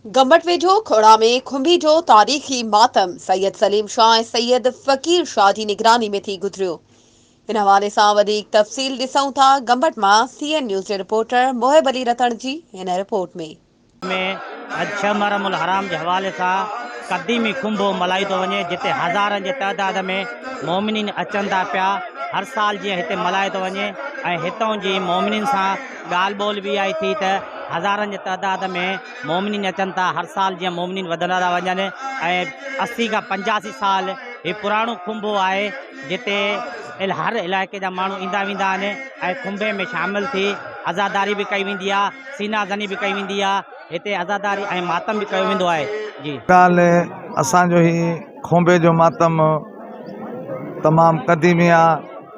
گمبٽ ويجهو کوڙا ۾ کنڀي جو تاريخي ماتم سيد سليم شاهه ۽ سيد فقير شاهه جي نگراني ۾ ٿي گذريو. ان حوالي سان وڌيڪ تفصيل ڏسون ٿا گمبٽ مان سي اين نيوز جي رپورٽر محب علي رتڻ جي هن رپورٽ ۾. ۾ اڄ ڇهه محرم الحرام جي حوالي سان قديمي کنڀو ملهايو ٿو وڃي جتي هزارن جي تعداد ۾ مؤمنين اچن ٿا پيا هر سال جيئن هتي ملهايو ٿو وڃي ۽ هتئون جي مؤمنين سان ڳالهه ٻولهه به اها ئي ٿي ته هزارن جي تعداد ۾ مومنين اچن ٿا، هر سال جيئن مومنين وڌندا ٿا وڃن ۽ اسي کان پنجاسي سال هي پراڻو کنڀو آهي جتي هر علائقي جا ماڻهو ايندا ويندا آهن ۽ کنڀي ۾ شامل ٿي عزاداري به ڪئي ويندي آهي، سينا زني به ڪئي ويندي آهي، هتي عزاداري ۽ ماتم به ڪيو ويندو آهي. جي. بهرحال اسان جو هي کنڀي جو ماتم تمام قديمي آهي.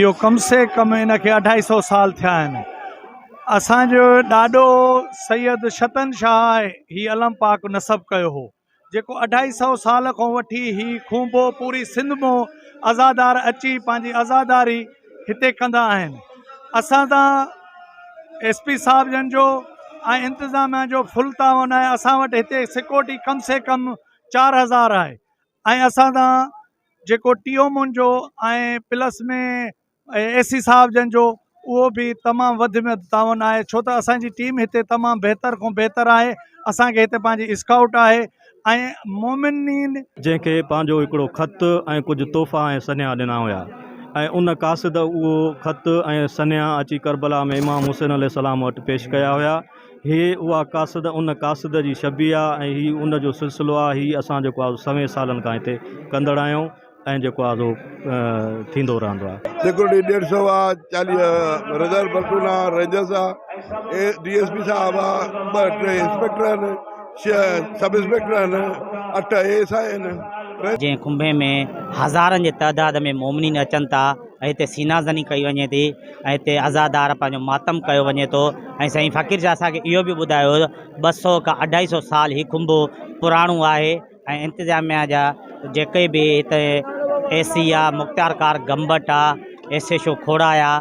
اهو ڪم سي ڪم ان کي اڍائي سئو سال ٿيا آهن. اسان جو ڏاڏو سيد شتن شاهه هي علم پاڪ نصب ڪيو هو، جيڪو اڍائي سئو سال کان وٺي هي کونڀو پوري سنڌ مون عزادار اچي پنهنجي عزاداري هتي ڪندا آهن. اسان سان ايس پي صاحب جن جو ۽ انتظاميا جو فل تعاون آهي. اسان وٽ هتي سڪيورٽي ڪم سي ڪم چار هزار آهي. ۽ اسان سان جيڪو ٽي او مون جو ۽ پلس ۾ اي سي صاحب جن جو اهو به تمام وڌ ۾ وڌ تعاون آهي ڇو ته اسان جي ٽيم هتي تمام بهتر کان بهتر آهي اسان کي هتي پنهنجي اسڪائوٽ آهي ۽ مومنين جنهن کي پنهنجو هڪڙو خط ۽ ڪجهه تحفا ۽ سنيها ڏنا هيا ۽ ان قاصد اهو خط ۽ سنيها اچي ڪربلا ۾ امام حسين عليه السلام وٽ پيش ڪيا هيا. هي اها قاصده ان قاصده جي شبيهه آ ۽ هي ان جو سلسلو آ. هي اسان جيڪو آ سوين سالن کان هتي ڪندڙ آهيون ۽ جيڪو آ سو ٿيندو رهندو آ. سيڪيورٽي ڏيڍ سئو آ، چاليهه ريزرو پلٽون آ، رينجرز آ، ڊي ايس پي صاحب آ، ٻه ٽي انسپيڪٽر آهن، ڇهه سب انسپيڪٽر آهن، اٺ اي ايس آء آهن. جنهن ڪنڀي ۾ هزارن جي تعداد ۾ مومنين اچن ٿا. ۽ هتي سينا زني ڪئي وڃي ٿي ۽ هتي عزادار پنهنجو ماتم ڪيو وڃي ٿو ۽ سائين فقير شاهه اسان کي اهو به ٻڌايو هو ٻه سو کان اڍائي سو سال هي کنڀو پراڻو آهي ۽ انتظاميا جا جيڪي به هتي اي سي آ مختيار ڪار گمبٽ آ ايس ايش او کوڙا آ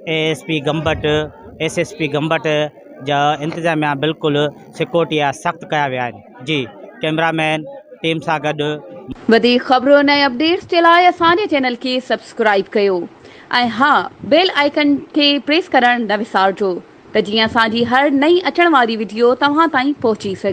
A S P Gambat S S P Gambat جا انتظاميا بلڪل سڪيورٽي جا سخت ڪيا ويا آهن جي ڪيمرا مين ٽيم سان گڏ. وڌيڪ خبرن ۽ اپڊيٽس جي لاء اسان جي چينل کي سبسڪرائيب ڪيو ۽ ها بيل آئيڪن کي پريس ڪرڻ نه وسارجو ته جيئن اسان جي هر نئين اچڻ واري وڊيو توهان تائين پهچي سگهي.